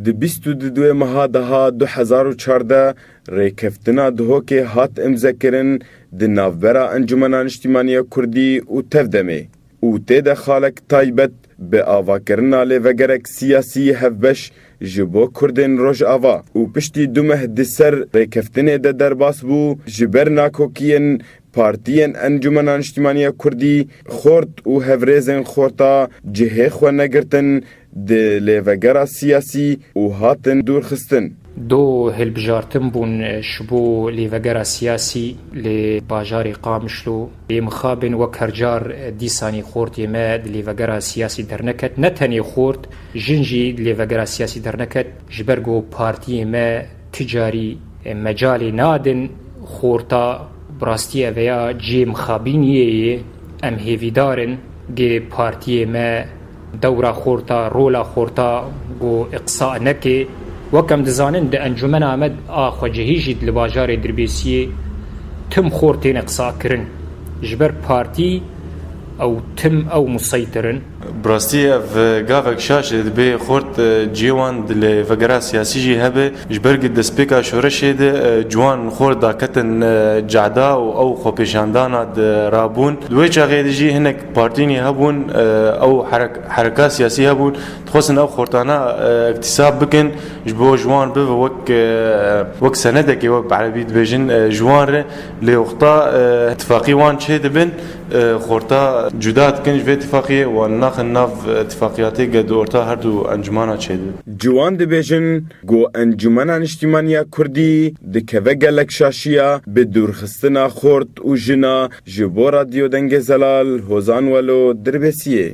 Di bîst û du ê meha daha du hezar û çardeh Rêkeftina Duhokê hat îmzekirin di navbera Encûmena Niştîmaniya Kurdî û Tevdemê û tê de xalek taybet bi avakirina lêvegerek siyasî hevbeş ji bo Kurdên Rojava û piştî du meh di ser rêkeftinê de derbas bû ji ber nakokiyên Partiyên Encûmena Niştîmaniya Kurdî, xort û hevrêzên xorta cihê xwe negirtin di lêvegera siyasî û hatin dûrxistin. Du hilbijartin bûn ji bo lêvegera siyasî li bajarê Qamişlo. Bê mixabin wek her car dîsanî xortê me di lêvegera siyasî derneket. Ne tenê xort, jin jî di lêvegera siyasî derneket ji ber ku partiyê me, Ti carî mecalê nadin xorta bi rastî ev ya cihê mixabînîyê yê. Em hêvîdar in gê partîyê me dewra xorta, rola xorta bo îqsa neke. Wek em dizanin di Encûmena me a xwecihî jî li bajarê Dirbêsîyê tim xort têne qisakirin. Ji ber partî ew tim ew museytir in. Bi rastî ev gavek şaş e, dibê xort cihê wan di lê vegera siyasî jî hebe. Ji ber ku destpêka şoreşê de ciwan li xort daketin cehda û ew xwepêşandana di rabûn. Di wê çaxê de jî hinek partînî hebûn ew hereka siyasî hebûn dixwestin ew xortana îktisab bikin ji bo jiwan bibe wek wek senedekê wek bi erebî dibêjin ji wan re lê oxta îtîfaqî wan çêdibin. Xorta cuda dikin ji vê tifaqiyê, wan naxin nav tifaqiyatê ge di orta her du encumana çêdi. Ciwan dibêjin ku Encumena Niştîmaniya Kurdî dikeve gelek şaşiya bi dûrxistina xort û jina ji bo Radyo Dengê Zelal Hozan Welo Dirbêsiyê.